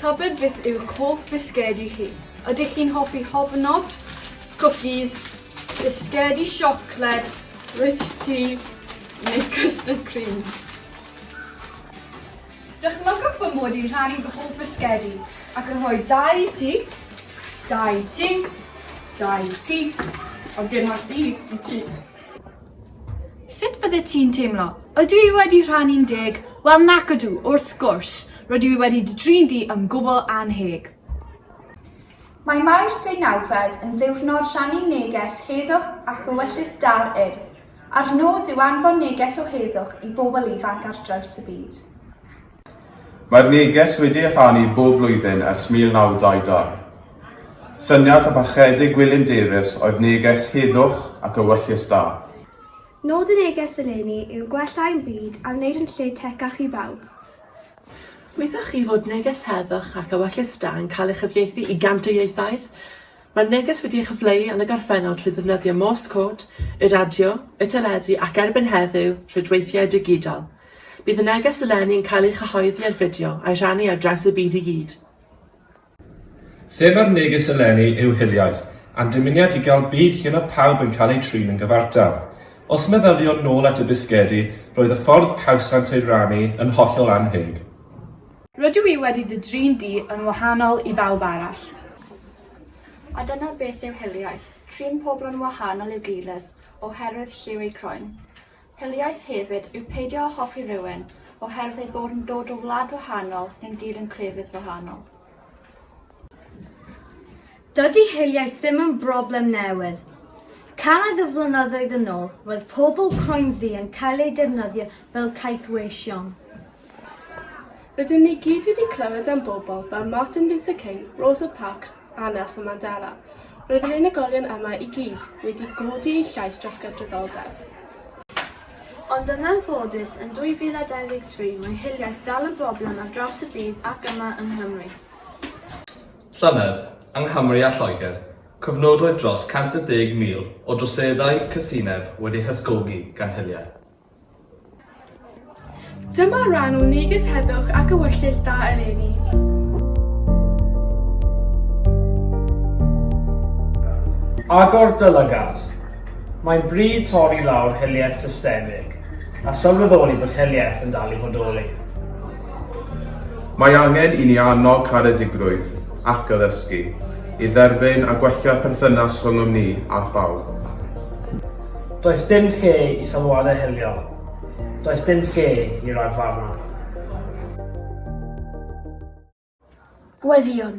Tybed beth yw'ch hoff bisgedi chi? Ydych chi'n hoffi hobnobs, cookies, bisgedi siocled, rich tea neu custard creams? Dychmygwch fy mod i'n rhannu fy hoff fisgedi ac yn rhoi dau i ti, dau i ti, dau i ti, ond dim ond un i ti. Sut fyddet ti'n teimlo? Ydw i wedi rhannu'n deg? Wel nac ydw, wrth gwrs, rydw i wedi dy drin di yn gwbl annheg. Mae Mawrth Deinawfed yn ddiwrnod rhannu neges heddwch ac ewyllys da'r Urdd. A'r nod yw anfon neges o heddwch i bobl ifanc ar draws y byd. Mae'r neges wedi ei rhannu bob blwyddyn ers 1922. Syniad a pharchedig Gwilym Davies oedd neges heddwch ac ewyllys da. Nod y neges eleni yw gwella ein byd a wneud yn lle tecach i bawb. Wyddoch chi fod neges heddwch ac ewyllys da yn cael ei chyfieithu i gant o ieithoedd? Mae'r neges wedi ei chyfleu yn y gorffennol trwy ddefnyddio Morse Code, y radio, y teledu ac erbyn heddiw, rhwydweithiau digidol. Bydd y neges eleni yn cael ei chyhoeddi ar fideo a'i rhannu ar draws y byd i gyd. Thema'r neges eleni yw Hiliaeth, a'n dymuniad i gael byd lle mae pawb yn cael eu trin yn gyfartal. Os meddyliwn nôl at y bisgedi, roedd y ffordd cawsant ei rannu yn hollol annheg. Rydw i wedi dy drin di yn wahanol i bawb arall. A dyna beth yw hiliaeth, trin pobl yn wahanol i'w gilydd oherwydd lliw eu croen. Hiliaeth hefyd yw peidio â hoffi rhywun oherwydd eu bod yn dod o wlad wahanol neu'n gyd yn crefydd wahanol. Dydy hiliaeth ddim yn broblem newydd. Cannoedd o flynyddoedd yn ôl, roedd pobl croenddu yn cael eu defnyddio fel caethweision. Rydyn ni gyd wedi clywed am bobl fel Martin Luther King, Rosa Parks a Nelson Mandela. Roedd yr unigolion yma i gyd wedi godi eu llais dros gydraddoldeb. Ond yn anffodus, yn 2023, mae hiliaeth dal yn broblem ar draws y byd ac yma yng Nghymru. Llynedd, yng Nghymru a Lloegr, cofnodwyd dros 110,000 o droseddau casineb wedi hysgogi gan hiliaeth. Dyma ran o neges heddwch ac ewyllys da eleni. Agor dy lygad. Mae'n bryd torri lawr hiliaeth systemig a sylweddoli bod hiliaeth yn dal i fodoli. Mae angen i ni annog caredigrwydd ac addysgu i dderbyn a gwella perthynas rhyngom ni a phawb. Does dim lle i sylwadau hiliol. Does dim lle i ragfarnau. Gweddïwn.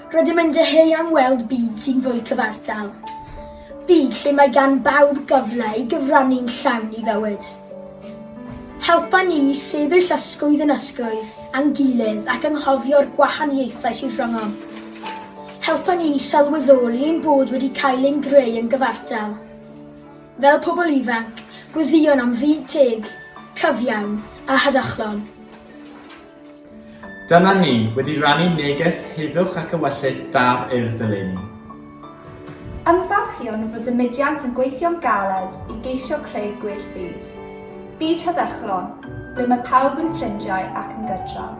Rydym yn dyheu am weld byd sy'n fwy cyfartal. Byd lle mae gan bawb gyfle i gyfrannu'n llawn i fywyd. Helpa ni i sefyll ysgwydd yn ysgwydd a'n gilydd ac anghofio'r gwahaniaethau sydd rhyngom. Helpa ni i sylweddoli ein bod wedi cael ein greu yn gyfartal, fel pobl ifanc, gweddïo am fyd teg, cyfiawn a heddychlon. Dyma ni wedi rhannu neges heddwch ac ewyllys da'r Urdd eleni. Ymfalchïwn fod y mudiant yn gweithio'n galed i geisio creu gwell byd. Byd heddychlon, ble mae pawb yn ffrindiau ac yn gydrawd.